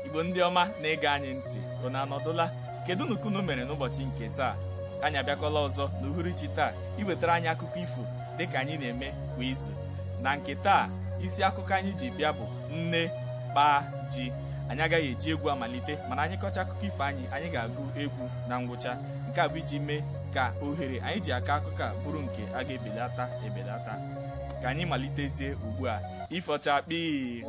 igbo ndị ọma na-ege anyị ntị unu anọdụla kedụnụ ka unu mere n'ụbọchị nke taa anyị abịakwala ọzọ n'uhuruchi taa iwetara anyị akụkọ ifo dịka anyị na-eme kwa izu na nke taa isi akụkọ anyị ji bịa bụ nne kpaa ji anyị agaghị eji egwu amalite mana anyị kọcha akụkọ ifo anyị anyị ga-agụ egwu na ngwụcha nke a bụ iji mee ka ohere anyị ji akọ akụkọ a bụrụ nke a ga-ebelata ebelata ka anyị malitezie ugbu a ifo chakpii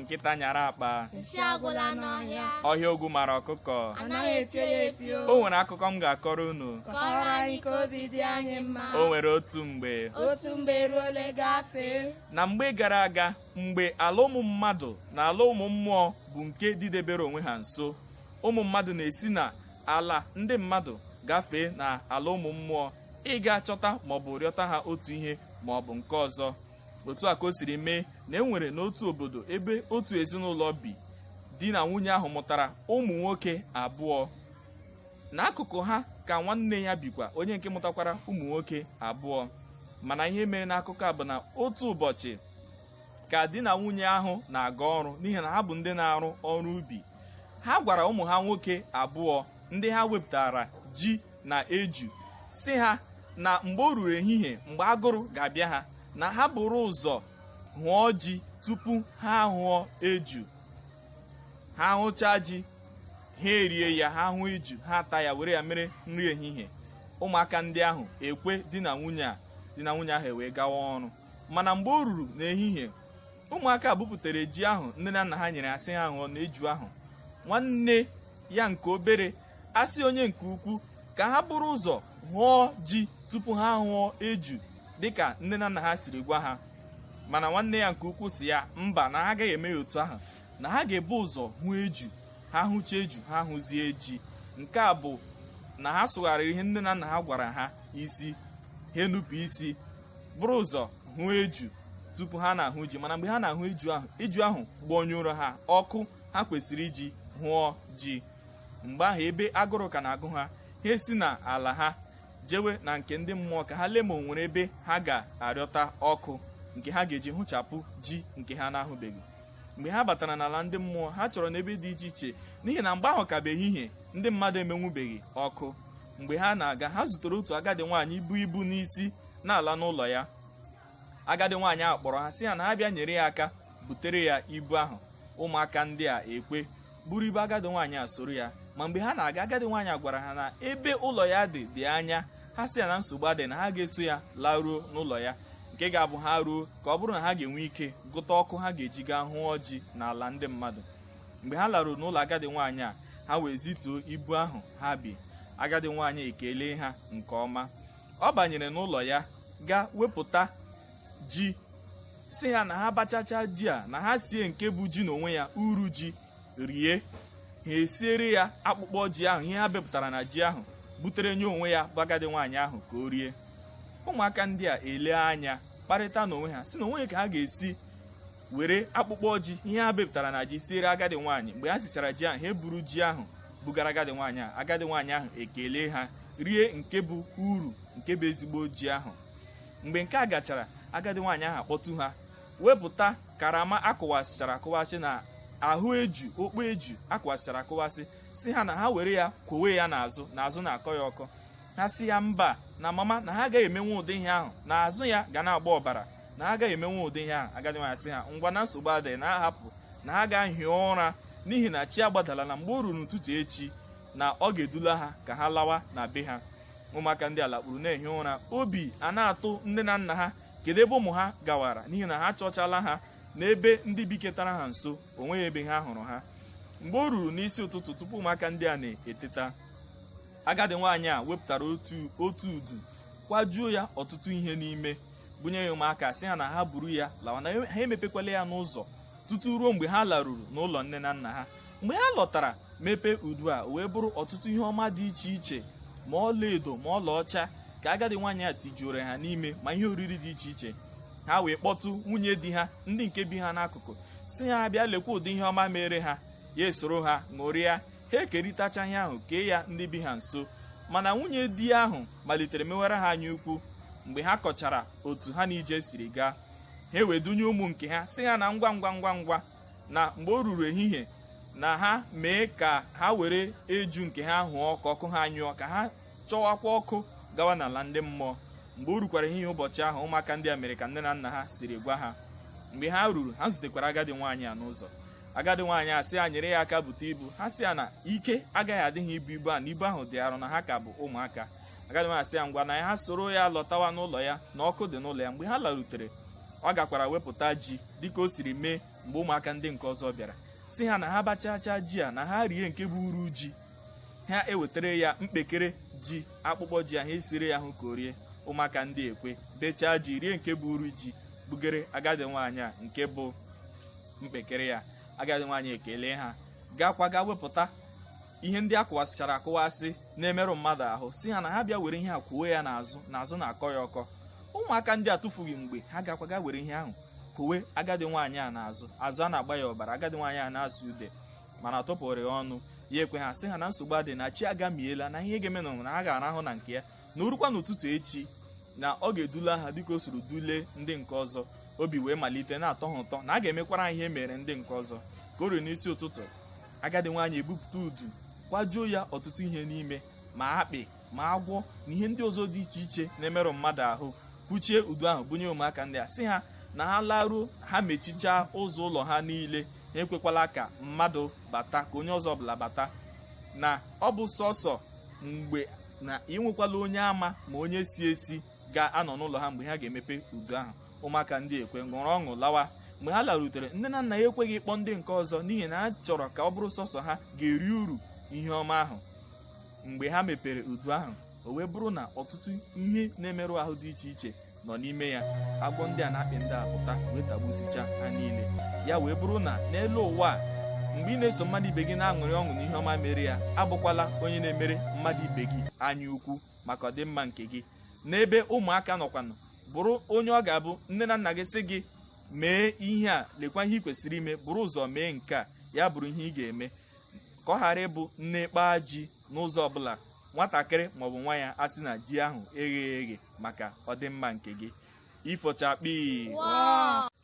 nkịta nyara akpa nsị agwụla n'ọhịa ọhịa ogwu mara ọkụkọ anaghị epio ya epio o nwere akụkọ m ga-akọrọ unu kọrọ anyị ka obi dị anyị mma o nwere otu mgbe otu mgbe eruole gafee na mgbe gara aga mgbe ala ụmụ mmadụ na ala ụmụ mmụọ bụ nke dịdebere onwe ha nso ụmụ mmadụ na-esi na ala ndị mmadụ gafee na ala ụmụ mmụọ ịga chọta maọbụ rịọta ha otu ihe maọbụ nke ọzọ otu a ka o siri mee na e nwere n'otu obodo ebe otu ezinụlọ bi di na nwunye ahụ mụtara ụmụ nwoke abụọ n'akụkụ ha ka nwanne ya bikwa onye nke mụtakwara ụmụ nwoke abụọ mana ihe mere n'akụkọ a bụ na otu ụbọchị ka di na nwunye ahụ na-aga ọrụ n'ihi na ha bụ ndị na-arụ ọrụ ubi ha gwara ụmụ ha nwoke abụọ ndị ha wepụtara ji na eju sị ha na mgbe o ruru ehihie mgbe agụrụ ga-abịa ha na ha buru ụzọ hụọ ji tupu ha hụọ eju ha hụchaa ji ha erie ya ha hụọ eju ha ata ya were ya mere nri ehihie ụmụaka ndị ahụ ekwe di na nwunye a di na nwunye ahụ ewee gawa ọrụ mana mgbe o ruru n'ehihie ụmụaka bupụtara ji ahụ nne na nna ha nyere ha sị ha hụọ na eju ahụ nwanne ya nke obere asị onye nke ukwu ka ha buru ụzọ hụọ ji tupu ha hụọ eju dịka nne na nna ha siri gwa ha mana nwanne ya nke ukwu sị ya mba na ha agaghị eme ya otu ahụ na ha ga-ebu ụzọ hụ eju ha hụcha eju ha hụzie ji nke a bụ na ha sụgharịrị ihe nne na nna ha gwara ha isi ha enupụ isi buru ụzọ hụ eju tupu ha na-ahụ ji mana mgbe ha na-ahụ eju ahụ eju ahụ gbọnyụrụ ha ọkụ ha kwesịrị iji hụọ ji mgbe ahụ ebe agụrụ ka na-agụ ha ha esi na ala ha jewe na nke ndị mmụọ ka ha lee ma o nwere ebe ha ga-arịọta ọkụ nke ha ga-eji hụchapụ ji nke ha na-ahụbeghị mgbe ha batara n'ala ndị mmụọ ha chọrọ n'ebe dị iche iche n'ihi na mgbe ahụ ka bụ ehihie ndị mmadụ emenwubeghị ọkụ mgbe ha na-aga ha zutere otu agadi nwaanyị bu ibu n'isi na-ala n'ụlọ ya agadi nwaanyị ahụ kpọrọ ha sị ha na ha bịa nyere ya aka butere ya ibu ahụ ụmụaka ndị a ekwe buru ibu agadi nwaanyị a soro ya ma mgbe ha na-aga agadi nwaanyị a gwara ha na ebe ụlọ ya dị dị anya ha sị ya na nsogbu adị na ha ga-eso ya laruo n'ụlọ ya nke ga-abụ ha ruo ka ọ bụrụ na ha ga-enwe ike gụta ọkụ ha ga-eji gaa hụọ ji n'ala ndị mmadụ mgbe ha laruru n'ụlọ agadi nwaanyị a ha wee zituo ibu ahụ ha bu agadi nwaanyị ekelee ha nke ọma ọ banyere n'ụlọ ya gaa wepụta ji sị ha na ha bachacha ji a na ha sie nke bụ ji n'onwe ya uru ji rie ha esiere ya akpụkpọ ji ahụ ihe ha bepụtara na ji ahụ butere nye onwe ya bụ agadi nwaanyị ahụ ka o rie ụmụaka ndị a ele anya kparịta n'onwe ha sị na o nwe ka ha ga-esi were akpụkpọ ji ihe ha bepụtara na ji siere agadi nwaanyị mgbe ha sichara ji ahụ ha eburu ji ahụ bugara agadi nwaanyị ahụ agadi nwaanyị ahụ ekele ha rie nke bụ uru nke bụ ezigbo ji ahụ mgbe nke a gachara agadi nwaanyị ahụ akpọtụ ha wepụta karama a kụwasịchara akụwasị na ahụ eju okpo eju a kụwasịchara akụwasị sị ha na ha were ya kwowe ya n'azụ na azụ na-akọ ya ọkọ ha sị ya mba na mama na ha agaghị emenwe ụdị ihe ahụ na azụ ya ga na-agba ọbara na ha agaghị emenwe ụdị ihe ahụ agadi nwaanyị sị ha ngwa na nsogbu adịghị na ha hapụ na ha gaa hie ụra n'ihi na chi agbadala na mgbe o ruru n'ụtụtụ echi na ọ ga-edula ha ka ha lawa na be ha ụmụaka ndị a lakpuru na-ehi ụra obi a na-atụ nne na nna ha kedu ebe ụmụ ha gawara n'ihi na ha chọchala ha n'ebe ndị biketara ha nso o nweghị ebe ha hụrụ ha mgbe o ruru n'isi ụtụtụ tupu ụmụaka ndị a na-eteta agadi nwaanyị a wepụtara otu udu kwajuo ya ọtụtụ ihe n'ime bunye ya ụmụaka sị ha na ha buru ya lawa na ha emepekwala ya n'ụzọ tutu ruo mgbe ha laruru n'ụlọ nne na nna ha mgbe ha lọtara mepee udu a wee bụrụ ọtụtụ ihe ọma dị iche iche ma ọlaedo ma ọlaọcha ka agadi nwaanyị a tijuore ha n'ime ma ihe oriri dị iche iche ha wee kpọtụ nwunye di ha ndị nke bi ha n'akụkụ sị ha bịa lekwa ụdị ihe ọma mere ha ya esoro ha ṅụrịa ha ekerịtacha ihe ahụ kee ya ndị bi ha nso mana nwunye di ahụ malitere mewara ha anya ukwu mgbe ha kọchara otu ha na ije siri gaa ha wee dunye ụmụ nke ha sị ha na ngwa ngwa ngwa ngwa na mgbe o ruru ehihie na ha mee ka ha were eju nke ha hụọ ọkụ ọkụ ha nyụọ ka ha chọwakwa ọkụ gawa n'ala ndị mmụọ mgbe o rukwara ehihie ụbọchị ahụ ụmụaka ndị a mere ka nne na nna ha siri gwa ha mgbe ha ruru ha zutekwara agadi nwaanyị a n'ụzọ agadi nwaanyị a sị ya nyere ya aka bute ibu ha sị ya na ike agaghị adị ha ibu ibu a na ibu ahụ dị arụ na ha ka bụ ụmụaka agadi nwaanyị sị ya ngwa na ya ha soro ya lọtawa n'ụlọ ya na ọkụ dị n'ụlọ ya mgbe ha larutere ọ gakwara wepụta ji dịka o siri mee mgbe ụmụaka ndị nke ọzọ bịara sị ha na ha bachachaa ji a na ha rie nke bụ uru ji ha ewetara ya mkpekere ji akpụkpọ ji ahụ esiri ya ahụ ka o rie ụmụaka ndị a ekwe bechaa ji rie nke bụ uru ji bugere agadi nwaanyị a nke bụ mkpekere ya agadi nwaanyị ekele ha gakwa ga wepụta ihe ndị a kụwasịchara akụwasị na-emerụ mmadụ ahụ sị ha na ha bịa were ihe a kwoo ya n'azụ na azụ na-akọ ya ọkọ ụmụaka ndị a atụfughị mgbe ha gakwaga were ihe ahụ kwowe agadi nwaanyị a n'azụ azụ a na-agba ya ọbara agadi nwaanyị a na-asụ ude mana tụpụrụ ya ọnụ ya ekwe ha sị ha na nsogbu adịghị na chi agamiela na ihe ga-eme na ha ga-arahụ na nke ya na o rukwa n'ụtụtụ echi na ọ ga-edula ha dịka o soro dule ndị nke ọzọ obi wee malite na-atọ ha ụtọ na a ga-emekwara ha ihe e mere ndị nke ọzọ ka o ruru n'isi ụtụtụ agadi nwaanyị ebupụta udu kwajuo ya ọtụtụ ihe n'ime ma akpị ma agwọ na ihe ndị ọzọ dị iche iche na-emerụ mmadụ ahụ kwuchie udu ahụ bunye ụmụaka ndị a sị ha na ha laruo ha mechichaa ụzọ ụlọ ha niile ha ekwekwala ka mmadụ bata ka onye ọzọ ọbụla bata na ọ bụ sọsọ mgbe na enwekwala onye ama ma onye si esi ga-anọ n'ụlọ ha mgbe ha ga-emepe udu ahụ ụmụaka ndị a ekwe ṅụrụ ọṅụ lawa mgbe ha larutere nne na nna ya ekweghị ịkpọ ndị nke ọzọ n'ihi na ha chọrọ ka ọ bụrụ sọsọ ha ga-eri uru ihe ọma ahụ mgbe ha mepere udu ahụ o wee bụrụ na ọtụtụ ihe na-emerụ ahụ dị iche iche nọ n'ime ya agwọ ndị a na akpị ndị a pụta wee tagbusicha ha niile ya wee bụrụ na n'elu ụwa a mgbe ị na-eso mmadụ ibe gị na-aṅụrị ọṅụ n'ihe ọma mere ya abụkwala onye na-emere mmadụ ibe gị anya ukwu maka ọdịmma nke gị n'ebe ụmụaka nọkwanụ bụrụ onye ọ ga-abụ nne na nna gị sị gị mee ihe a lekwa ihe ị kwesịrị ime buru ụzọ mee nke a ya bụrụ ihe ị ga-eme ka ọ ghara ịbụ nne kpaa ji n'ụzọ ọbụla nwatakịrị maọbụ nwa ya asị na ji ahụ egheghị eghe maka ọdịmma nke gị ifochakpi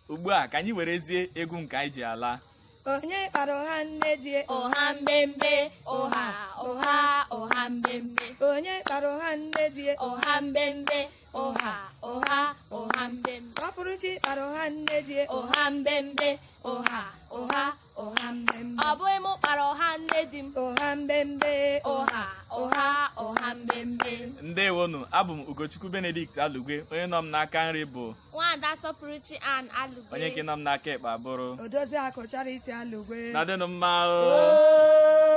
ugbu a ka anyị werezie egwu nke anyị ji ala onye kpara ọha nne di ọha mbembe ọha ọha ọha mbembe onye kpara ọha nne di ọha mbembe ọha ọha ọha mbembe sọpụrụchi kpara ọha nne di ọha mbembe ọha ọha ọha mbembe ọ bụghị m kpara ọha nne di m ọha mbembe ọha ọha ọha mbembe ndewonụ abụ m ugochukwu benedict alugwe onye nọ m n'aka nri bụ nwaada sọpụrụchi ann alugwe onye nke nọ m n'aka ekpe abụrụ odoziakụ charity alugwe nọdịnụ mma o